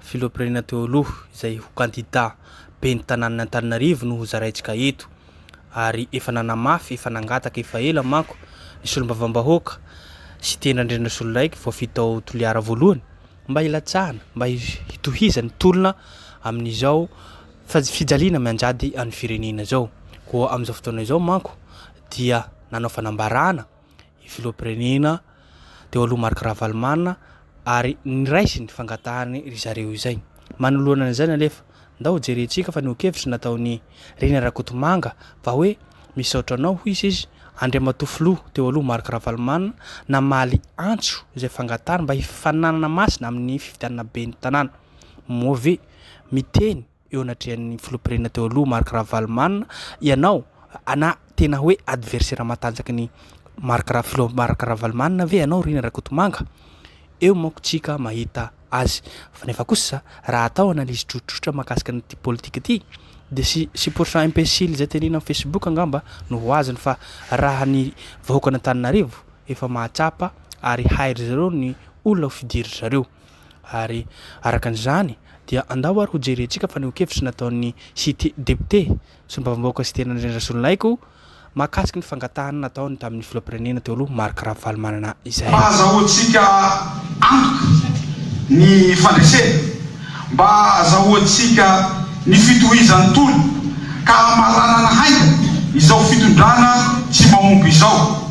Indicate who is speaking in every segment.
Speaker 1: Filoham-pirenena teo aloha izay ho kandida ben'ny tanànan' Antananarivo no ho zaraintsika eto ary efa nanamafy, efa nangataka efa ela manko ny solombavambahoaka, Siteny Randrianazololaiko voafidy tao Toliara voalohany mba hilatsahana, mba hitohizany ny tolona amin'izao fijaliana mianjady an'ny firenena izao. Koa amin'izao fotoana izao manko dia nanao fanambarana. ny filoham-pirenena teo aloha Marc Ravalomanana ary niraisiny fangatahany ry zareo izay. Manoloana an'izany anefa, ndao jerentsika fanehoan-kevitra nataon'i Rina Rakotomanga fa hoe misaotra anao hoy izy izy Andriamatoa Filoha teo aloha Marc Ravalomanana namaly antso izay fangatahany mba hifananana masina amin'ny fifidianana ben'ny tanàna. Moa ve miteny eo anatrehan'ny filoham-pirenena teo aloha Marc Ravalomanana, ianao na tena hoe adversaire matanjaky ny Marc Ra- filoha Marc Ravalomanana ve ianao Rina Rakotomanga? Eo manko tsika mahita azy. Fa nefa kosa raha atao analyse tsotsotra mahakasika an'ity politika ity dia sy supportant imbécile izay tenenina amin'ny Facebook angamba no ho azony fa raha ny vahoakan'Antananarivo efa mahatsapa ary hairy zareo ny olona ho fidiry zareo. Ary araka an'izany dia andao ary hojerentsika fa nihoan-kevitra nataon'ny Cite Député, Solombavambahoaka Cite Andrianandriana Razolonaiko, mahakasika ny fangatahana nataony tamin'ny Filoham-pirenena teo aloha Marc Ravalomanana izay. Mba azahoantsika
Speaker 2: antoka ny fandresena, mba azahoantsika ny fitohizan'ny tolona ka hamaranana haingana izao fitondrana tsy mahomby izao.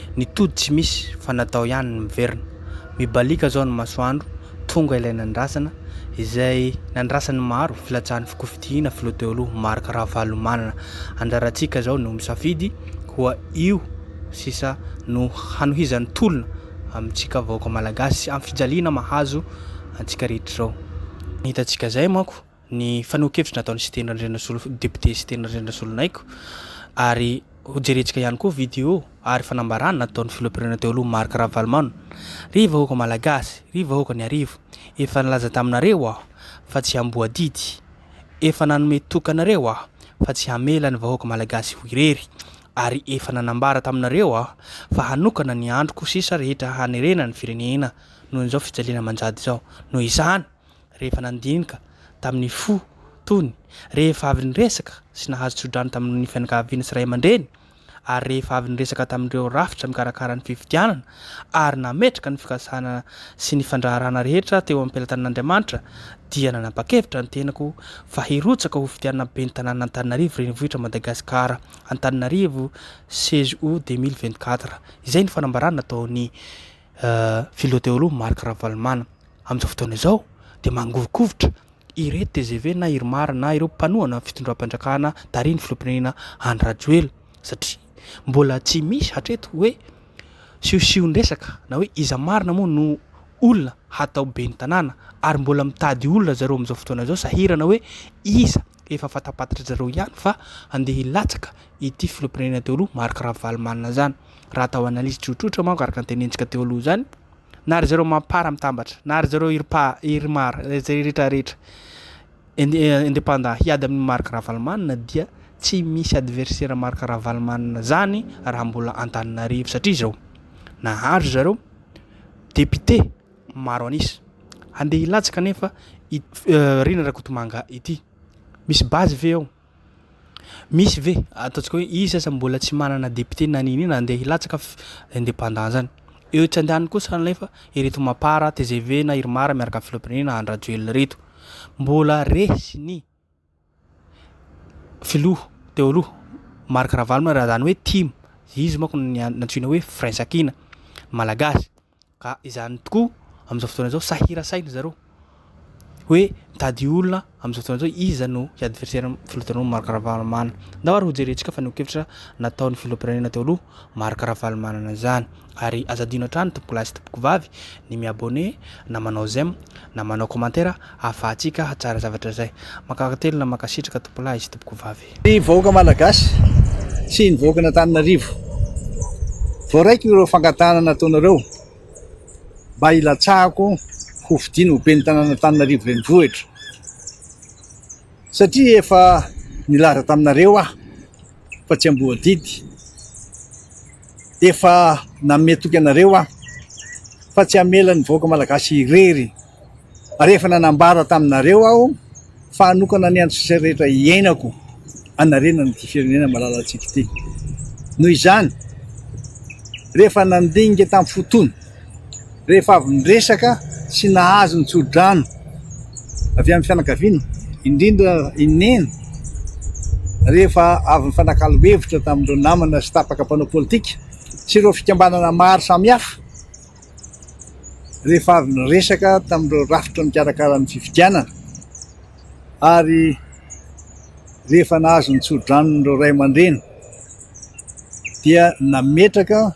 Speaker 1: Ny tody tsy misy fa natao ihany ny miverina. Mibaliaka izao ny masoandro, tonga ilay nandrasana, izay nandrasan'ny maro filatsahan'ny fikofidiana filoha teo aloha Marc Ravalomanana. Anjarantsika izao no misafidy koa io sisa no hanohizan'ny tolona amintsika vahoaka malagasy sy amin'ny fijaliana mahazo antsika rehetra izao. Ny hitantsika izay manko ny fanehoan-kevitra nataon'i Siteny Randrianasolo, député Siteny Randrianasolonaiky, ary hojerentsika ihany koa vidéo ary fanambarana nataon'ny Filoham-pirenena teo aloha Marc Ravalomanana, Ry vahoaka Malagasy, ry vahoakan'Iarivo, efa nilaza taminareo aho fa tsy hamboadidy, efa nanome toky anareo aho fa tsy hamela ny vahoaka Malagasy ho irery, ary efa nanambara taminareo aho fa hanokana ny androko sisa rehetra hanerena ny firenena noho izao fijaliana manjady izao. Noho izany, rehefa nandinika tamin'ny fo tony, rehefa avy niresaka sy nahazo tsodrano tamin'ny fianakaviana sy ray aman-dreny, ary rehefa avy niresaka tamin'ireo rafitra mikarakara ny fifidianana ary nametraka ny fikasana sy ny fandraharahana rehetra teo am-pelatanan'Andriamanitra, dia nanapa-kevitra ny tenako fa hirotsaka ho fidianana ben'ny tanàna Antananarivo Renivohitra Madagasikara Antananarivo CGO 2024. Izay no fanambarana nataon'i. Filoha teo-aloha Marc Ravalomanana. Amin'izao fotoana izao dia mangovikovitra ireto tgv na Irmar na ireo mpanohana fitondram-panjakana tarihin'ny filoham-pirenena Andry Rajoelina satria mbola tsy misy hatreto hoe siosion-dresaka na hoe iza marina moa no olona hatao ben'ny tanàna ary mbola mitady olona zareo amin'izao fotoana izao sahirana hoe iza Efa fantampatri zareo ihany fa handeha hilatsaka ity filoham-pirenena teo aloha Marc Ravalomanana izany. Raha atao analyse tsotsotra manko araka ny tenentsika teo aloha izany, na ry zareo Mampara mitambatra, na ry zareo Irpa, Irmar, izay rehetra rehetra independant hiady amin'i Marc Ravalomanana dia tsy misy adversaire Marc Ravalomanana zany raha mbola Antananarivo satria izao, nahazo zareo député, maro an'isa. Andeha hilatsaka anefa ity Rina Rakotomanga ity. Misy base ve ao? Misy ve ataontsika hoe izy aza mbola tsy manana député na n'inona andeha hilatsaka indépendant zany. Eo tsy andany kosa anefa ireto Mapar, tgv na Irmar miaraka amin'ny filoham-pirenena Andry Rajoelina ireto. Mbola resy ny. Filoha teo aloha Marc Ravalomanana raha izany hoe tim, izy manko no nantsoina hoe firaisankina malagasy ka izany tokoa amin'izao fotoana izao sahirasahina ry zareo hoe mitady olona amin'izao fotoana izao iza no hi-adversaire ny filoha teo aloha Marc Ravalomanana. Angamba ary hojerentsika fanehoan-kevitra nataon'ny filoham-pirenena teo aloha Marc Ravalomanana izany. Ary aza adino hatrany tompokolahy sy tompokovavy ny mi-abonner na manao j'aime na manao commentaire ahafahantsika hahatsara zavatra izay. Mankatelina mankasitraka tompolahy sy tompokovavy. Ny vahoaka malagasy
Speaker 3: sy ny vahoakan'Antananarivo voaraiko ireo fangatahana nataonareo mba hilatsahako ho fidiana ho ben'ny tanàn'Antananarivo renivohitra satria efa nilaza taminareo aho fa tsy amboadidy. Efa nanome toky anareo aho fa tsy hamela ny vahoaka malagasy irery ary efa nanambara taminareo aho fa hanokana ny andro sisa rehetra iainako hanarenana ity firenena malalantsika ity. Noho izany, rehefa nandinika tamin'ny fotoana rehefa avy niresaka sy nahazo ny tsodrano avy amin'ny fianakaviana, indrindra i Neny rehefa avy nifanakalo hevitra tamin'ireo namana sy tapaka mpanao politika sy ireo fikambanana maro samihafa rehefa avy niresaka tamin'ireo rafitra mikarakara ny fifidianana ary rehefa nahazo ny tsodrano ireo ray aman-dreny dia nametraka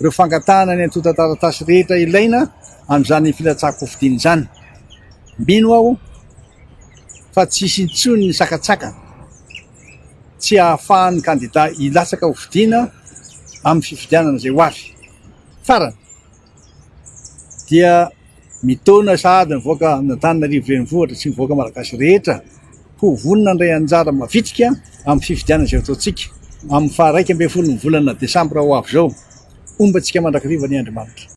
Speaker 3: ireo fangatahana ny antontan-taratasy rehetra ilaina amin'izany filatsahan-kofidiana izany. Mino aho fa tsy hisy intsony ny sakatsakana tsy hahafahan'ny kandidà hilatsaka ho fidiana amin'ny fifidianana izay ho avy. Farany, dia Mitaona sahady mivoaka an'Antananarivo renivohitra sy ny vahoaka malagasy rehetra ho vonona handray anjara mavitrika amin'ny fifidianana izay hataontsika amin'ny faha iraika ambin'ny folo ny volana desambra ho avy izao. Homba antsika mandrakariva anie Andriamanitra.